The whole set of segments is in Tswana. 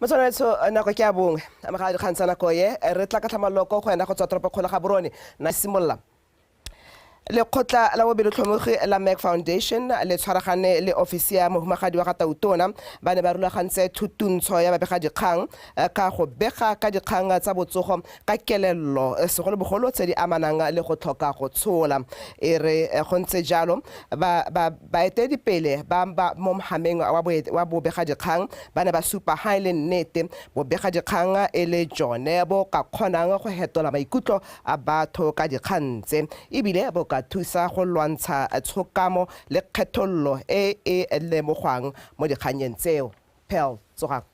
motswanetso eh, nako ke a bongwe ga dikgang tsa nako ye eh, re tla ka tlhamaloko go ena go tswa toropo kgolo ga borone na simolola lekgotla la bobelotlhomogi la mac foundation le tshwaragane le ofisi ya mohumagadi wa ga tautona ba ne ba rulagantse thutuntsho ya babegadikgang eh, ka go bega ka dikgang tsa botsogo ka kelello eh, segolobogolo tse di amanang le go tlhoka go tshola e re eh, go ntse jalo baeteledipele ba ba mo mogameng wa bobegadikgang ba ne ba supa ga e le nnete bobegadikgang e le jone bo ka kgonang go hetola maikutlo a batho ka dikgang tse ebile bo ka thusa go lwantsha eh, tshokamo le kgethololo e e lemogwang mo dikganyeng tseo pel tsogang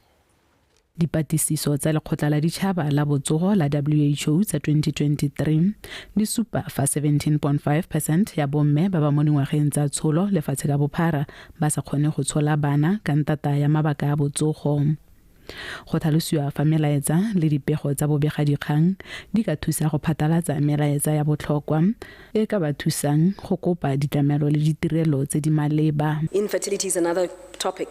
Dipatlisiso tsa lekgotla la ditšhaba la botsogo la who tsa 2023 di supa fa 17.5 percent ya bomme ba ba mo dingwageng tsa tsholo lefatshe ka bophara ba sa kgone go tshola bana ka ntata ya mabaka a botsogo go tlhalosiwa fa melaetsa le dipego tsa bobegadikgang di ka thusa go phatalatsa melaetsa ya botlhokwa e ka ba thusang go kopa ditlamelo le ditirelo tse di maleba Infertility is another topic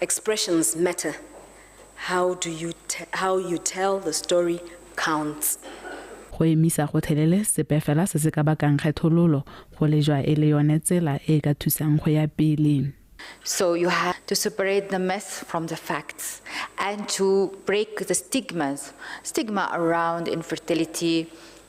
Expressions matter. How do you how you tell the story counts. Go emisa gotlhelele sepe fela se se ka bakang kgethololo go lejwa e le yone tsela e e ka thusang go ya pele. So you have to separate the myths from the facts and to break the stigmas, stigma around infertility,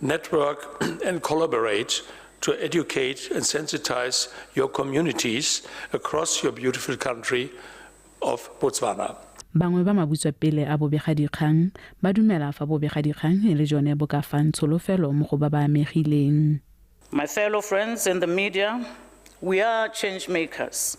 network and collaborate to educate and sensitize your communities across your beautiful country of Botswana. Bangwe ba mabutswapele a bobegadikgang ba dumela fa bobegadikgang e le jone bo ka fang tsholofelo mo go ba ba amegileng. My fellow friends in the media, we are change makers.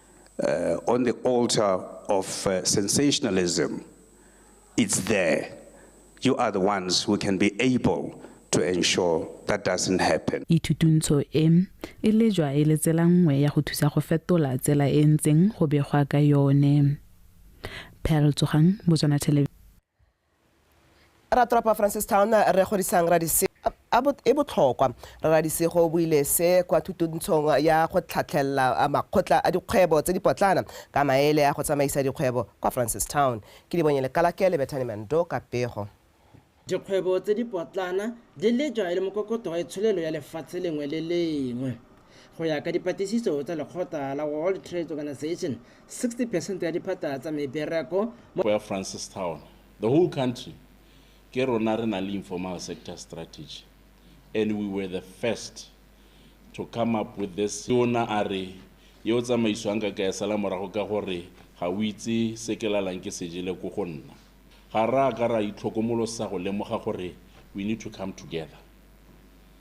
uh, on the altar of uh, sensationalism, it's there. You are the ones who can be able to ensure that doesn't happen. Ithutuntsho e e lejwa e le tsela nngwe ya go thusa go fetola tsela e ntseng go begwa ka yone. Pearl Tsogang, Botswana Television. ratropa francistown re godisang radise e botlhokwa radisego o buile se kwa thutontshong ya go tlhatlhelela makgotla a dikgwebo tse dipotlana ka maele a go tsamaisa dikgwebo kwa francistown ke dibonye lekalake le bethane mando ka pego Dikgwebo tse dipotlana di lejwa e le mokokotlo wa itsholelo ya lefatshe lengwe le lengwe. Go ya ka dipatlisiso tsa lekgotla la World Trade Organization, 60 percent ya diphata tsa mebereko mo. Ya Francistown. The whole country, ke rona re nang le informal sector strategy and we were the first to come up with this. Tona a re yo o tsamaisiwang ka kaya sala morago ka gore ga o itse se ke lalang ke se jele ko go nna. Ga ra ka ra itlhokomolosa go lemoga gore we need to come together.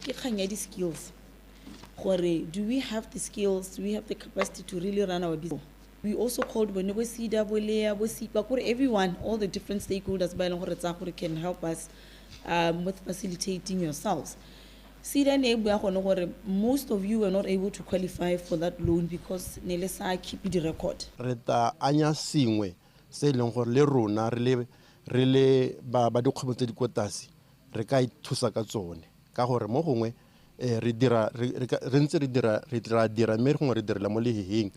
Ke kgang ya di-skills gore do we have the skills, do we have the capacity to really run our business. We also called bone bo SEDA, bo LEA, bo SIPA, kore everyone, all the different stakeholders ba e leng gore tsaya gore can help us um, with facilitating yourselves. SEDA ne e bua gone gore most of you were not able to qualify for that loan because ne le sa keep di-record. re ta anya sengwe se e leng gore le rona re le re le ba ba dikgwebo tse di ko tlase re ka ithusa ka tsone ka gore mo gongwe um re dira re ntse re dira re tla dira mme gongwe re direla mo leheheng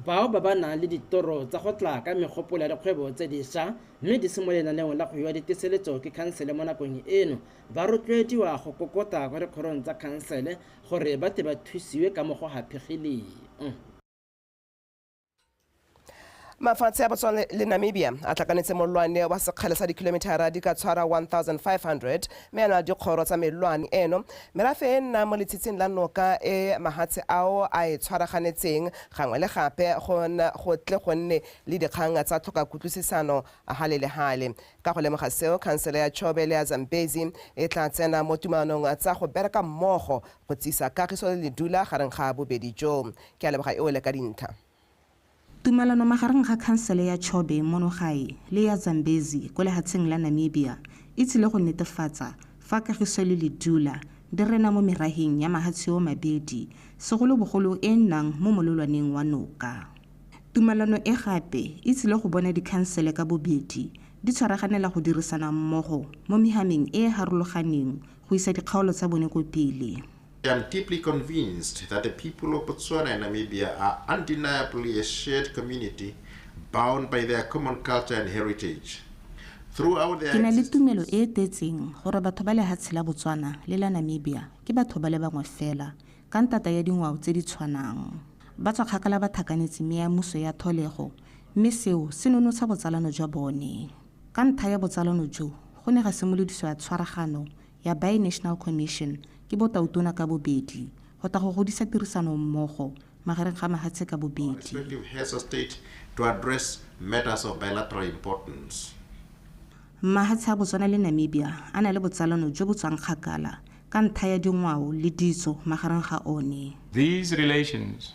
bao ba ba nang le ditoro tsa go tla ka megopolo ya dikgwebo tse disha mme di se mo lenaneong la go iwa diteseletso ke khansele mo nakong eno ba rotloediwa go kokota kwa dikgorong tsa khansele gore ba tle ba thusiwe ka mo go haphegileng. mafatshe a botswana le namibia a tlakanetse molwane wa sekgale sa dikilomithara di ka tshwara 1500 mme a na dikgoro tsa melwane eno merafe e nna mo letshitsing la noka e mahatshe ao a e tshwaraganetseng gangwe le gape go tle go nne le dikgang tsa tlhoka kutlwisisano gale le gale ka go lemoga seo khansele ya chobe le ya zambezi e tla tsena mo tumalanong tsa go bereka mmogo go tsisa kagiso le ledula gareng ga bobedi jo Ke a leboga e wele ka dintha. Tumalano magareng ga khansele ya Chobe mono gae le ya Zambezi ko lehatsheng la Namibia e tsile go netefatsa fa Kagiso le Ledula di rena mo meraheng ya mahatshe o mabedi, segolobogolo e e nnang mo mololwaneng wa noka. Tumalano e gape e tsile go bona dikhansele ka bobedi di tshwaraganela go dirisana mmogo mo mehameng e e harologaneng go isa dikgaolo tsa bone ko pele. I am deeply convinced that the people of Botswana and Namibia are undeniably a shared community bound by their common culture and heritage. Throughout their ke na le tumelo e e tetseng gore batho ba lehatshe la botswana le la namibia ke batho ba le bangwe fela ka ntata ya dingwao tse di tshwanang ba tswa kgakala ba thakanetse me ya muso ya tholego mme seo se nonotsha botsalano jwa bone ka ntha ya botsalano jo go ne ga simolodiswa tshwaragano ya Bi-National Commission ke botautona ka bobedi go tla go godisa tirisano mmogo magareng ga mahatshe ka bobedi. Mahatshe a Botswana le Namibia a na le botsalano jo bo tswang kgakala ka ntha ya dingwao le ditso magareng ga one. These relations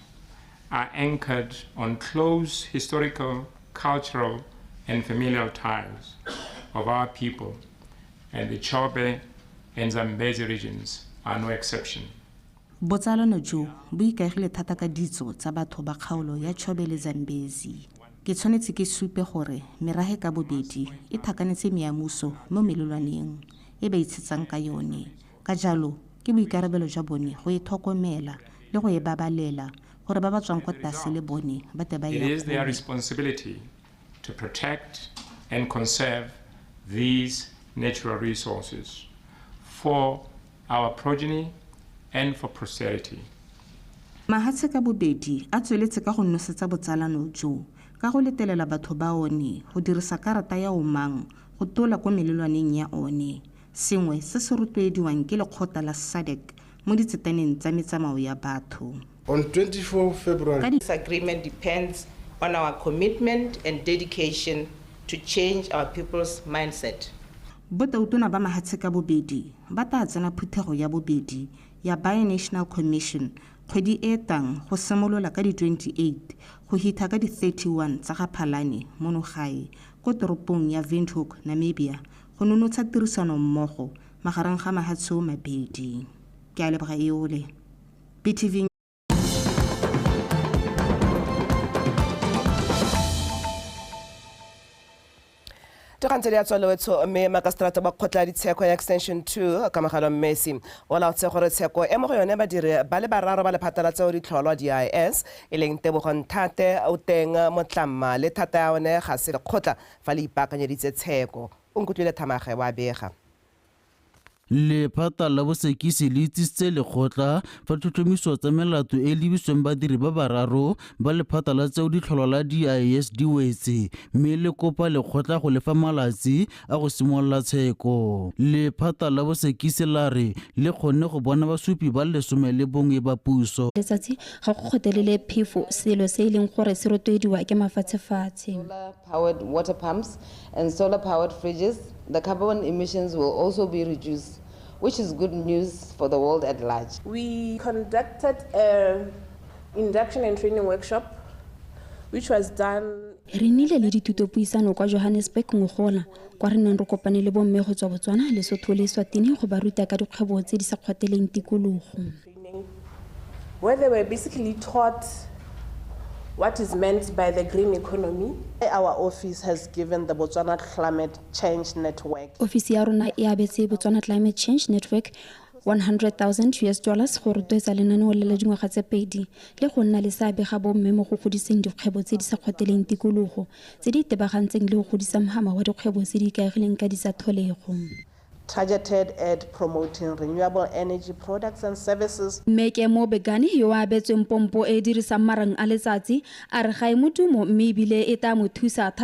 are anchored on close historical, cultural and familial ties of our people And the Chobe and Zambezi regions are no exception. Botsalano jo bo ikaegile thata ka ditso tsa batho ba kgaolo ya Chobe le Zambezi. Ke tshwanetse ke supe gore merage ka bobedi e thakanetse meamuso mo melelwaneng e ba itshetsang ka yone. Ka jalo, ke boikarabelo jwa bone go e tlhokomela le go e babalela gore ba ba tswang kwa tlase le bone ba tle ba e It is their responsibility to protect and conserve these natural resources for our progeny and for posterity. Mahatshe ka bobedi a tsweletse ka go nosetsa botsalano jo ka go letelela batho ba one go dirisa karata ya omang go tola ko melelwaneng ya one, sengwe se se rotloediwang ke lekgotla la SADC mo ditsetaneng tsa metsamao ya batho. On 24 February. This agreement depends on our commitment and dedication to change our people's mindset. Botautona ba mahatshe ka bobedi ba tla tsena phuthego ya bobedi ya Binational Commission kgwedi e tang go simolola ka di 28 go hitha ka di 31 tsa ga Phalane mono gae ko toropong ya Windhoek, Namibia go nonotsha tirisano mmogo magareng ga mahatsho mabedi ke a leboga eole btv togantse le ya tswalewetsho mme makaseterata ba kgotla ditsheko ya extension 2 kamagalo mmesi o laotse gore tsheko e mo go yone badiri ba le bararo ba lephata la tseo ditlholwa dis e leng tebogo nthate o teng motlamma le thata ya one ga se lekgotla fa le ipaakanyeditse tsheko O nkutlwile thamaga wa bega. Lephata la bosekisi le itsisitse lekgotla fa tlhotlhomiso tsa melato e lebisweng badiri ba bararo ba lephata la tseo ditlholwa la DIS di wetse mme le kopa lekgotla go lefa malatsi a go simolola tsheko. Lephata la bosekisi la re le kgonne go bona basupi ba lesome le bongwe ba puso. Letsatsi ga go kgotelele phefo, selo se e leng gore se rotloediwa ke mafatshefatshe. powered water pumps and solar powered fridges, the carbon emissions will also be reduced, which is good news for the world at large. We conducted an induction and training workshop which was done re nnile le dithutopuisano kwa johannesburg ngogola kwa re neng re kopane le bomme go tswa botswana lesotho le swatini go ba ruta ka dikgwebo tse di sa kgwateleng tikologo where they were basically taught what is meant by the green economy. Our office has given the Botswana Climate Change Network. Ofisi ya rona e abetse Botswana Climate Change Network 100,000 US dollars go rotloetsa lenaneo le la dingwaga tse pedi le go nna le seabe ga bomme mo go godiseng dikgwebo tse di sa kgoteleng tikologo tse di itebagantseng le go godisa mohama wa dikgwebo tse di ikaegileng ka disatlholego. Targeted ad promoting renewable energy products and services. Mme Kemo Begani, yo a abetsweng pompo e e dirisang marang a letsatsi, a re ga e mo tumo mme e bile e taa mo thusa thata.